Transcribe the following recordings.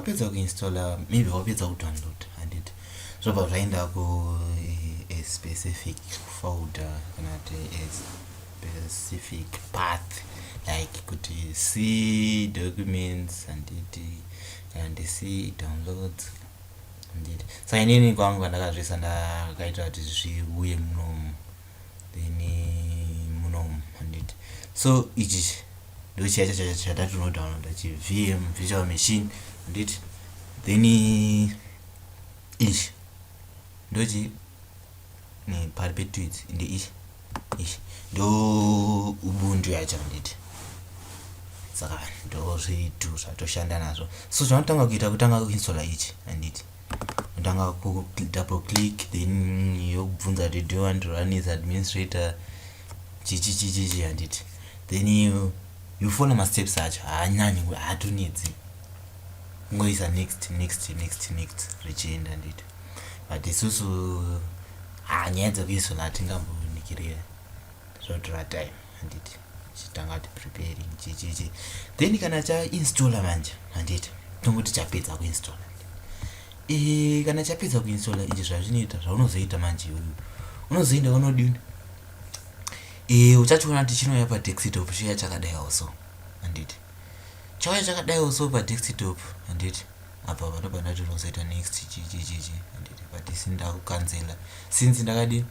wapedza kuinstalla maybe wapedza kudownload handit zvobva zvaenda ku eh, specific folder kana kuti as specific path like kuti see documents handiti kana ndi see downloads handiti saka inini kwangu kandakazviisa ndakaita kuti zviuye munomu then munomu handiti so ichi ndochiya chacho chatatonodownloada chivm virtual machine handiti then ichi ndochi neperpetuity ende ish ish ndo ubuntu yacho handiti saka ndo zvitu zvatoshanda nazvo so zvinotanga kuita kutanga kuinsola ichi handiti unotanga kudouble click then yokubvunza kuti do want to run is administrator chichi chichichi handiti then you, you follow masteps acho haanyanyi haatonetsi kungoisa next next next next richienda handiti but isusu haa ah, nyaya dzekuisona hatingambonikirira zvotora time handiti chitanga kuti preparing chichichi then kana chainstalla manje handiti tongoti chapedza kuinstalla e, eh, kana chapedza kuinstalla ichi zvazvinoita zvaunozoita manje iyoyo unozoenda unodini e, eh, uchachiona kuti chinouya padexitop chiya chakadai also handiti chauya chakadai also padexitop handiti apa patobva ndati unozoita next chichichichi handiti but si ndakukanzela since ndakadi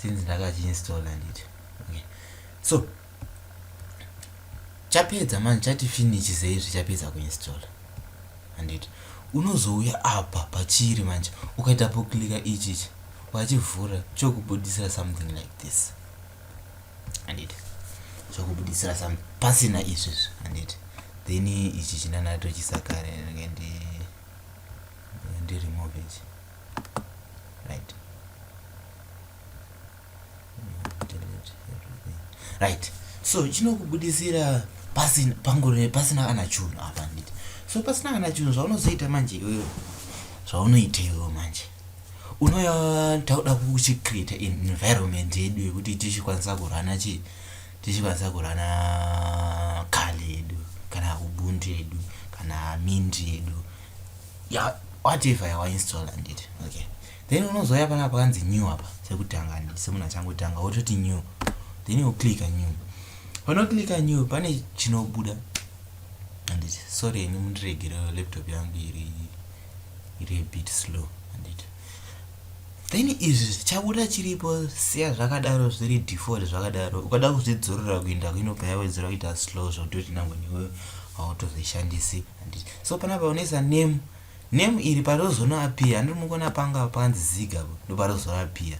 since ndakachiinstalla handiti okay so chapedza manje chati finish seizvi chapedza kuinstalla handiti unozouya apa pachiri manje ukaita poklika ichichi wachivhura chokubudisira something like this handiti zvakubuditsira some pasina izvi izvi handiti then ichi chinanatochisakare rege ndi ndiremove ichi right right so chinokubudisira pasina pangore pasina kana chunhu apa handiti so pasina kana chunhu zvaunozoita manje iwewe zvaunoita iwewe manje unoya tauda kuchicreate environment yedu yekuti tichikwanisa kurana chii tichikwanisa kurana kali yedu kana ubuntu yedu kana mint yedu ya whatever yawainstall andit okay then unozouya pana pakanzi new apa sekutanga ndi semunhu achangotanga wototi new then you click new panoclicka new pane chinobuda andit sorry ini mundiregere laptop yangu iri iri a bit slow handiti then izvi zvichabuda chiripo siya zvakadaro zviri default zvakadaro ukada kuzvidzorora kuinda kuinobva yawedzera kuita slow zvakutoti nangwe newe hautozvishandisi handiti so panapa unoisa name name iri parozonoapia handiri mukona panga panzi ziga ndoparozoapia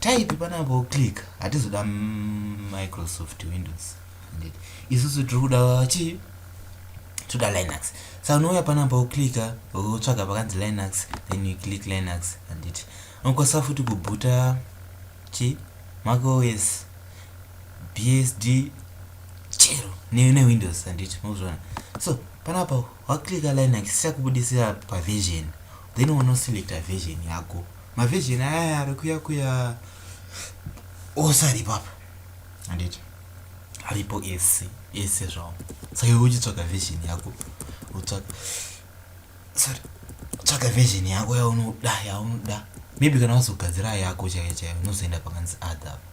Type panapa wo click hatizoda Microsoft Windows indeed. Isusu tiri kuda chi toda Linux. Saka unouya panapa wo click wotsvaga pakanzi Linux then you click Linux and it. Unokwanisa futi kubhuta chi Mac OS BSD chero ne, ne Windows and it. Mozviona. So panapa wa click Linux chakubudisira pa version then unoselecta version yako. Ma virgin aya ari kuya kuya ose aripo apa. Handiti. Aripo ese ese zvawo. Saka iwe uchitsvaga virgin yako. Utsvaga sorry. Tsvaga virgin yako yaunoda yaunoda. Maybe kana wazogadzira yako chaiyo chaiyo unozoenda pakanzi adha apa.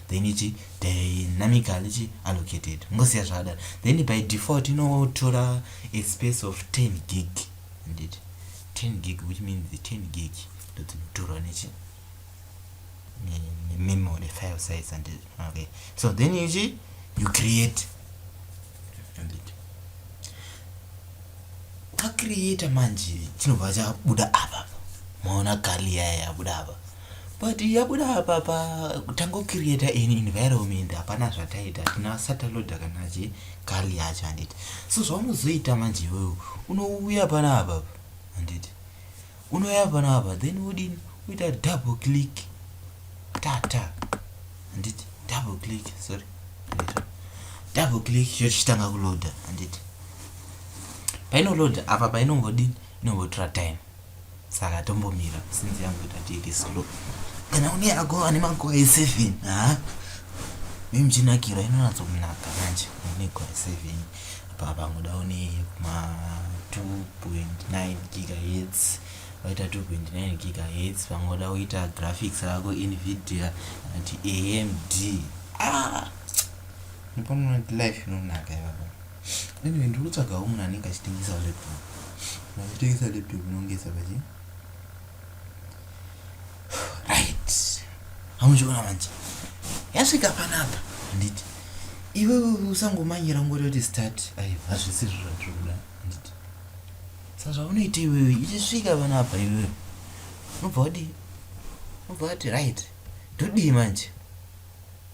then ichi dynamically chi allocated mungosiya zvakadaro then by default inotora a space of 10 gig handiti 10 gig which means the 10 gig ndodzinotorwa nechi memory file size handiti okay so then ichi you create handiti ka creator manje chinobva chabuda apa maona kali yaya yabuda apa but yabuda apapa tangocreata an environment hapana zvataita tina sataloda kana chi kali yacho handiti so zvaunozoita manje iwewo unouya panapa handiti unoya panapa then wodini uita double click tata handiti double click sorry double click yochitanga kuloda handiti painoroda apa painongodini inongotora time saka tombomira since yamboita kuti iri slow kana une yako ane makore eseven ha nemchinakiro inonatso kunaka manje une gore eseven apa pangoda une yekuma 2.9 gigahertz waita 2.9 gigahertz pangoda uita graphics rako invidia anati amd ah! nipomunoti life inonaka ivava Anyway, ndiri kutsvagawo munhu anenge achitengesa laptop. Munhu achitengesa laptop inongesa pachi. Right. Hamuchiona manje. Yasvika panapa. Handiti. Iwewe usangomanyira ngori kuti start. Ayo, hazvisi zviro zvandiri kuda. Handiti. Saka zvaunoita iwewe ichisvika panapa iwewe. Unobva wadii? Unobva wati right. Ndodii manje?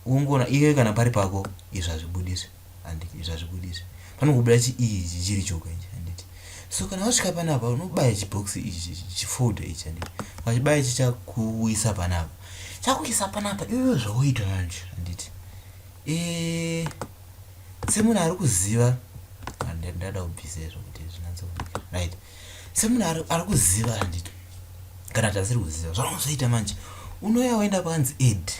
Wongona iwe kana pari pako izvazvibudise. handiti zvazvibudisa panokubuda chiii ichi chiri choka ichi handiti so kana wasvika panapa unobaya chibox ichi chifolder ichi handiti ukachibaya chichakuisa panapa chakuisa panapa iwewe zvawoita manje handiti e semunhu ari kuziva ndada kubvisa izvo kuti zvinatso right semunhu ari kuziva handiti kana tasiri kuziva zvaunozoita manje unoya woenda panzi ed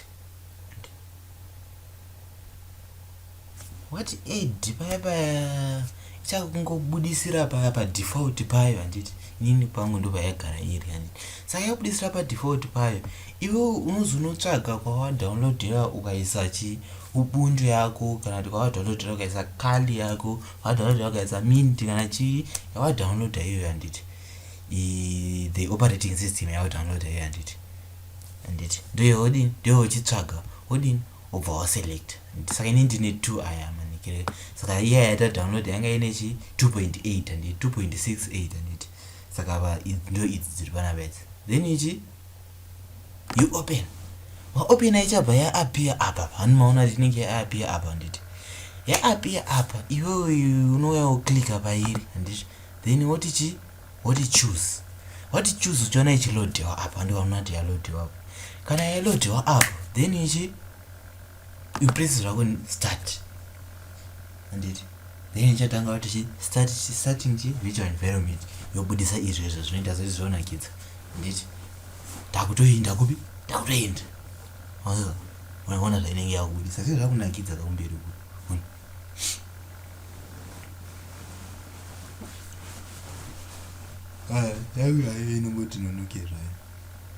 what aid paya paya ichakungobudisira paya padefault payo handiti inini pangu ndo payagara iri handiti saka yakubudisira padefault payo iwe unozonotsvaga kwawadownloadera ukaisa chi ubuntu yako kana kuti kwawadownloadera ukaisa kali yako kwawadownloadera ukaisa mint kana chii yawadownloada iyoyo handiti the operating system yawadownloada iyoyo handiti handiti ndoye wodini ndoye uchitsvaga wodini wobva waselect handiti saka ini ndine two aya manikire saka iya yaita download yanga ine chi 2.8 handi 2.68 handiti saka va ndo idzi dziri pana bedzi then ichi you open waopena ichabva yaapia apa hani maona kuti inenge yaapia apa handiti yaapia apa iwewe unouya woklika pairi handiti then woti chii what you choose what you choose uchiona ichilodhiwa apo andi wamunati yalodhiwa apo kana yalodhiwa apo then ichi you press zvako start anditi then ichatanga kuti chi start chi starting chi virtual environment yobudisa izvo izvo zvinoita zvoti zvonakidza anditi ndakutoenda kupi ndakutoenda ona zvainenge yakubudisa sezvakunakidza kakumberi kupi ah, yangu yaive inongoti nonoke zvayo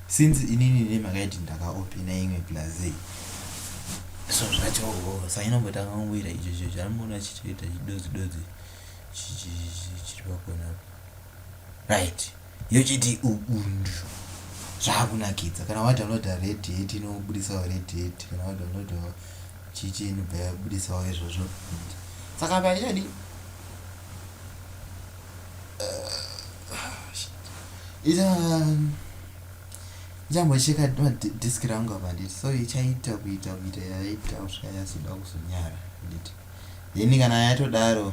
since inini ne makaiti ndakaopina imwe plazei so zvacho oh, sa inongotanga kungoita icho cho chaamboona chitoita chidozi dozi chiri pakona right yochiti ubundu zvakunakidza kana wadownloada red hat inobudisawo red hat kana wadownloadawo chichi inobva yabudisawo izvozvo saka apa ndichadi ndichambocheka uh, um, disk rangu apa nditi so ichaita kuita kuita yaita kusvika yazoda kuzonyara nditi then kana yatodaro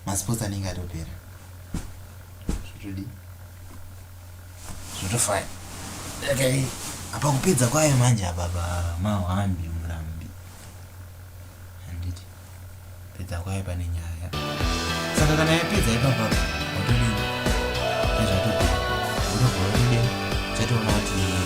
masports anenge atopera zvotodii zvotofaya okay. apa kupedza kwayo manje apapa mahambi murambi handiti pedza kwayo pane nyaya saka kana yapedza ipapapa watodii nezvatopera wotobva wotide chatoona kuti